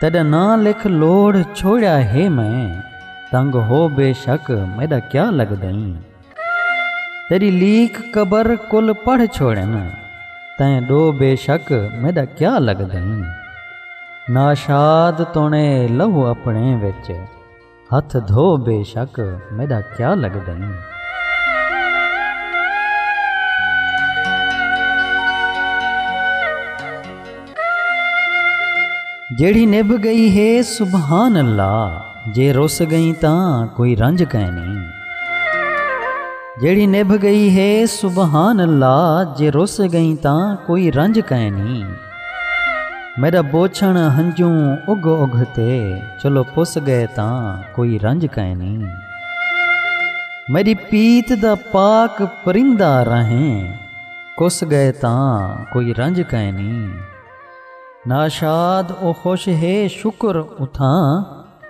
تیݙا ناں لکھ لوڑھ چھوڑیا ہے میں تنگ ہو بے شک میݙا کیا لڳدئیں تیݙی لیکھ قبر کل پڑھ چھوڑن تیں ݙو بے شک میݙا کیا لڳدئیں ناشاد توݨے لہو اپݨے وچ ہتھ دھو بے شک میݙا کیا لڳدن۔ جیڑھی نبھ ڳئی ہے سبحان اللہ جے رس ڳئیں تاں کوئی رنج کائنی۔ جیڑھی نبھ ڳئی ہے سبحان اللہ جے رس ڳئیں تاں کوئی رنج کائنی۔ میݙا بوچھݨ ہنجوں اگھ اگھ تے چلو پس ڳئے تاں کوئی رنج کائنی میݙی پیت دا پاک پرندہ رہیں کس ڳئے تاں کوئی رنج کائنی ناشاد او خوش ہے شکر اتھاں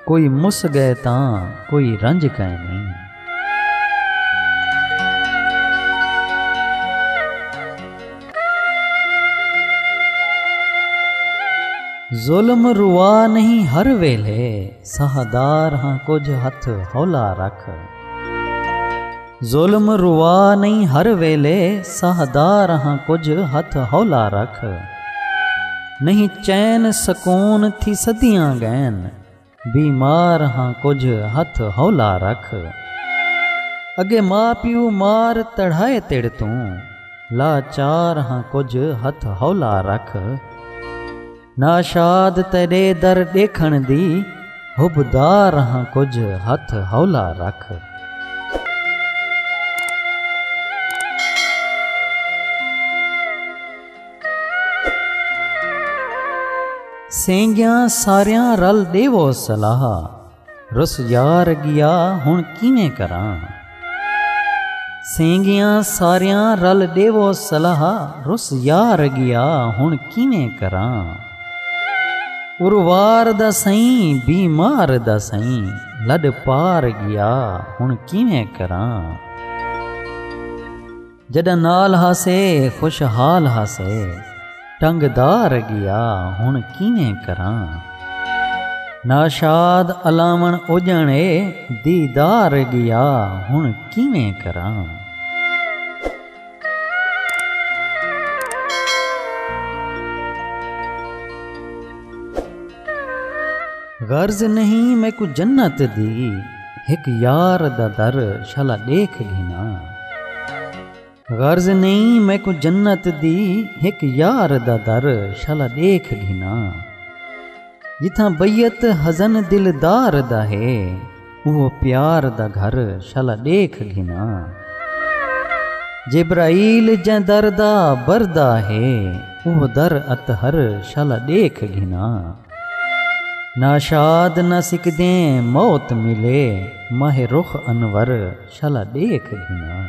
کوئی مس ڳئے تاں کوئی رنج کائنی۔ ظلم روا نہیں ہر ویلھے ساہ دار ہاں کجھ ہتھ ہولا رکھ۔ ظلم روا نئیں ہر ویلے سہدا رہاں کجھ ہتھ ہولا رکھ نئیں چین سکون تھی صدیاں گئن بیمار ہاں کجھ ہتھ ہولا رکھ اگے ماء پیو مار تڑھائے تیڑ توں لاچار ہاں کجھ ہتھ ہولا رکھ ناشاد تیݙے در ݙیکھݨ دی حبدار ہاں کجھ ہتھ ہولا رکھ۔ سینگیاں ساریاں رل ݙیوو صلاح۔ رس یار گیا ہن کیویں کراں سینگیاں ساریاں رل ڈیوو صلاح رس یار گیا ہن کیویں کراں اروار دا سئیں بیمار دا سئیں لڈ پار گیا ہن کیویں کراں جݙاں نال ہاسے خوش حال ہاسے ٹنگ دار گیا ہݨ کیویں کراں ناشاد الاوݨ اجݨ اے دیدار گیا ہݨ کیویں کراں غرض نہیں میکوں جنت دی ہک یار دا در شالا ݙیکھ گھناں غرض نہیں میکوں جنت دی ہک یار دا در شالا ݙیکھ گھناں جتھاں بیعت حزن دلدار دا ہے اوہو پیار دا گھر شالا ݙیکھ گھناں۔ جبرائیل جیں در دا بردا ہے اوہو در اطہر شالا ݙیکھ گھناں۔ ناشاد نہ سکدیں موت ملے ماہ رخ انور شالا ڈیکھ گھناں۔